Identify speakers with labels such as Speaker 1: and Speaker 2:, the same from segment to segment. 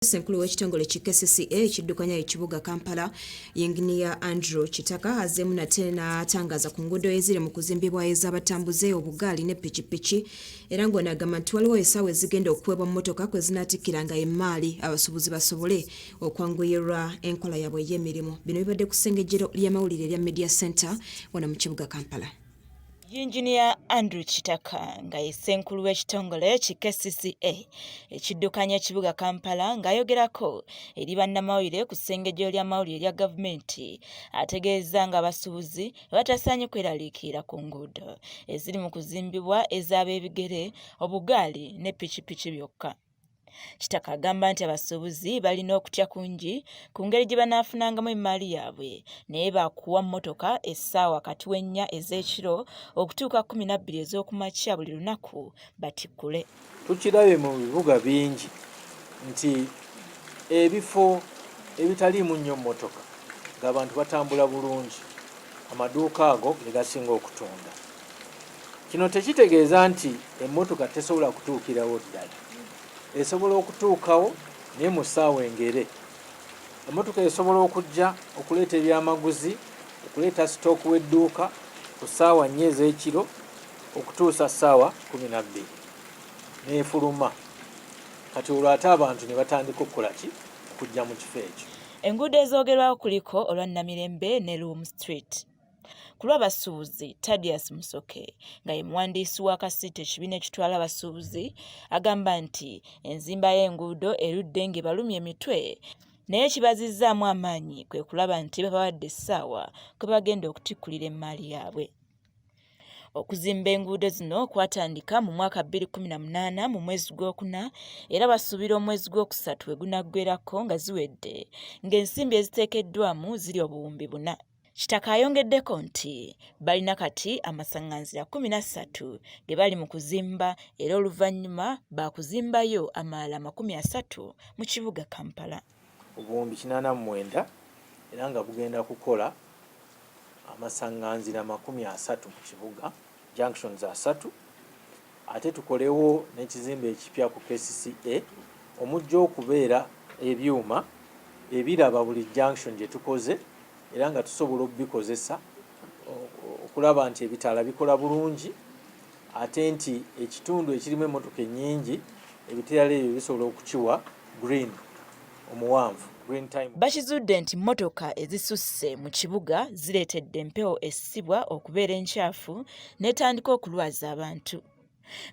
Speaker 1: Ssenkulu w'ekitongole ki KCCA ekiddukanya ekibuga Kampala, Yinginiya Andrew Kitaka azzeemu nate n'atangaza ku nguudo eziri mu kuzimbibwa ez'abatambuze obugaali ne pikipiki era ng'ono agamba nti waliwo essaawa ezigenda okuweebwa mmotoka kwe zinaatikkiranga emmaali abasuubuzi basobole okwanguyirwa enkola yaabwe ey'emirimu. Bino bibadde ku ssengejjero ly'amawulire erya Media Center wano mu kibuga Kampala. Yinginiya
Speaker 2: Andrew Kitaka nga ye ssenkulu w'ekitongole ki KCCA ekiddukanya ekibuga Kampala ng'ayogerako eri bannamawulire ku ssengejjero ly'amawulire lya gavumenti ategeezza ng'abasuubuzi batasaanye kweraliikirira ku nguudo eziri mu kuzimbibwa ez'abeebigere, obugaali ne pikipiki byokka. Kitaka agamba nti abasuubuzi balina okutya kungi ku ngeri gye banaafunangamu emmaali yaabwe naye baakuwa mmotoka essaawa kati w'ennya ez'ekiro okutuuka kkumi na bbiri ez'okumakya buli lunaku batikkule. Tukirabye mu
Speaker 3: bibuga bingi nti ebifo ebitaliimu nnyo mmotoka ng'abantu batambula bulungi amaduuka ago ge gasinga okutunda. Kino tekitegeeza nti emmotoka tesobola kutuukirawo ddala. Esobola okutuukawo naye mu ssaawa engere. Emmotoka esobola okujja okuleeta ebyamaguzi, okuleeta sitooku w'edduuka ku ssaawa nnya ez'ekiro okutuusa ssaawa kumi na bbiri n'efuluma. Kati olwo ate abantu ne batandika okukola ki? Okujja mu kifo ekyo. Enguudo ezoogerwako
Speaker 2: kuliko olwa Namirembe ne Luwum Street. ku lw'abasuubuzi tadius musoke nga ye muwandiisi wa kasiita ekibiina ekitwala abasuubuzi agamba nti enzimba y'enguudo erudde ng'ebalumya emitwe naye kibazizzaamu amaanyi kwe kulaba nti babawadde essaawa kwe bagenda okutikkulira emmaali yaabwe okuzimba enguudo zino kwatandika mu mwaka 2018 mu mwezi gw'okuna era basuubira omwezi gw'okusatu we gunaggwerako nga ziwedde ng'ensimbi eziteekeddwamu ziri obuwumbi buna Kitaka ayongeddeko nti balina kati amasaŋŋanzira kkumi na ssatu ge bali mu kuzimba era oluvannyuma baakuzimbayo amalala makumi asatu mu kibuga Kampala. obuwumbi kinaana
Speaker 3: mu mwenda era nga bugenda kukola amasaŋŋanzira makumi asatu mu kibuga. junctions asatu ate tukolewo n'ekizimbe ekipya ku KCCA omujja okubeera ebyuma ebiraba buli junction gye tukoze era nga tusobola okubikozesa okulaba nti ebitaala bikola bulungi ate nti ekitundu ekirimu emmotoka ennyingi ebitaala ebyo bisobola okukiwa green omuwanvu. Bakizudde
Speaker 2: nti mmotoka ezisusse mu kibuga zireetedde empewo essibwa okubeera enkyafu n'etandika okulwaza abantu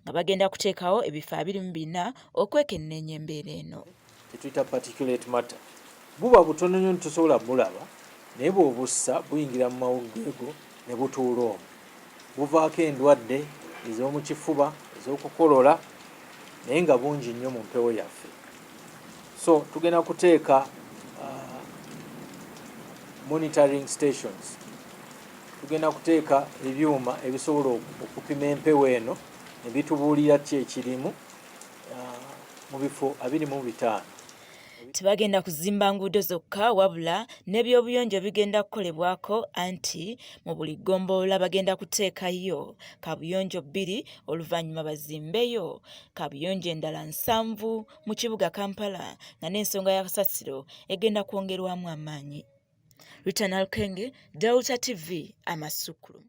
Speaker 2: nga bagenda kuteekawo ebifo abiri mu bina okwekenneenya embeera eno. Tetuyita particulate
Speaker 3: matter buba butono nnyo nti tosobola bulaba naye bw'obussa buyingira mu mawuggwe go ne butuula omwo. buvaako endwadde ez'omu kifuba, ez'okukolola naye nga bungi nnyo mu mpewo yaffe. So tugenda kuteeka uh, monitoring stations, tugenda kuteeka ebyuma ebisobola okupima empewo eno ne bitubuulira ki ekirimu uh, mu bifo abiri mu bitaano. Tebagenda
Speaker 2: kuzimba nguudo zokka wabula n'ebyobuyonjo bigenda kukolebwako anti mu buli ggombolola bagenda kuteekayo kaabuyonjo bbiri oluvannyuma bazimbeyo kaabuyonjo endala nsanvu mu kibuga Kampala nga n'ensonga ya kasasiro egenda kwongerwamu amaanyi. Rita Nalukenge, Delta TV, Amasukkulu.